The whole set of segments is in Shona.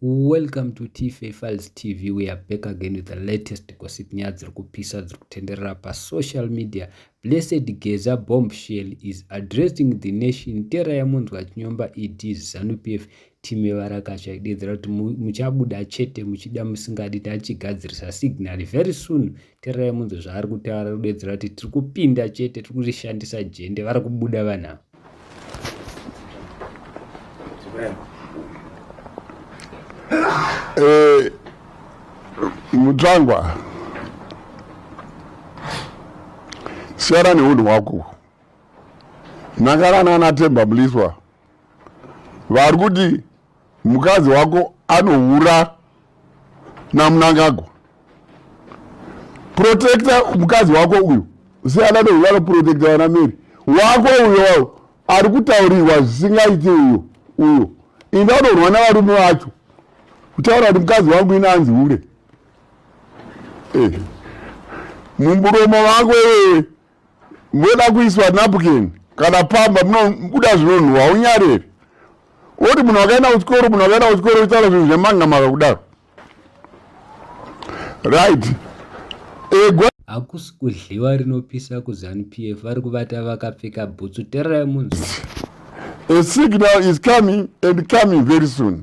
Welcome to Tife Files TV. We are back again with the latest gossip nyaya dziri kupisa dziri kutenderera pasocial media. Blessed Geza bombshell is addressing the nation. Tera yamunzwa chinyomba ED Zanu PF time varakasha idedzera kuti muchabuda chete muchida musingadi tachigadzirisa signal very soon tererai munzwe zvaari kutaura ari kudedzera kuti tiri kupinda chete tiri kurishandisa jende vari kubuda vanhu ava eh, mutsvangwa siyana neunhu hwako nhakarana anatemba mliswa vari kuti Mukadzi wako anohura namunangagwa protecta mukadzi wako uyu siyana neuyo anoprotecta vana meri wako uyo ari kutaurirwa zvisingaiti uyo uyo ini anorwa navarume vacho kutaura kuti mukadzi wangu ini anzi hure eh. mumburomo vako iwewe moda kuiswa napkin kana pamba munobuda zvinonhuwa haunyareri oti munhu wakaenda kuchikoro munhu wakaenda kuchikoro uchitaura zvinhu zvemangamaka kudaro right egwa hakusi kudliwa rinopisa kuzanu p f vari kuvata vakapfeka bhutsu tererai munzwa a signal is coming and coming very soon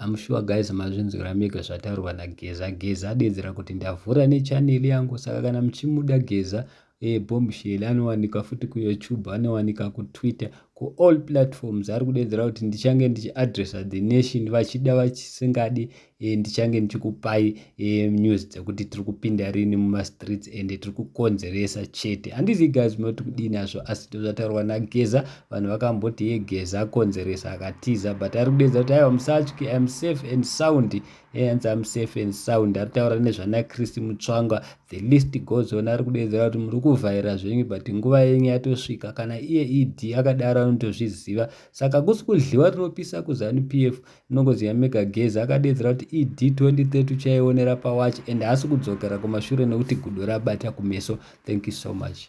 I'm sure guys mazvinzwira mega zvataurwa naGeza. Geza adedzera kuti ndavhura nechanel yangu saka kana muchimuda Geza eh, bombshell anowanika futi kuyoutube anowanika kutwitter kuall platforms ari kudedzera kuti ndichange ndichiadressa the nation vachida vachisingadi e, ndichange ndichikupai e, news dzekuti tiri kupinda rini mumastreets ende tiri kukonzeresa chete handizivi guys munoti kudii nazvo asi ndozvataurwa nageza vanhu vakamboti ye geza akonzeresa akatiza but ari kudedza kuti aiwa musatyi im safe and sound eanzi am safe and sound ari taura nezvana christ mutsvanga the list goes on ari kudedzera kuti muri kuvhaira zvenyu but nguva yenyu yatosvika kana iye ed akadaro anotozviziva saka kusi kudliwa rinopisa kuzanu p f Nongozi yamega geza akadeedzera kuti ED 2030 uchaionera pawatch and haasi kudzokera kumashure nekuti gudo rabata kumeso. Thank you so much.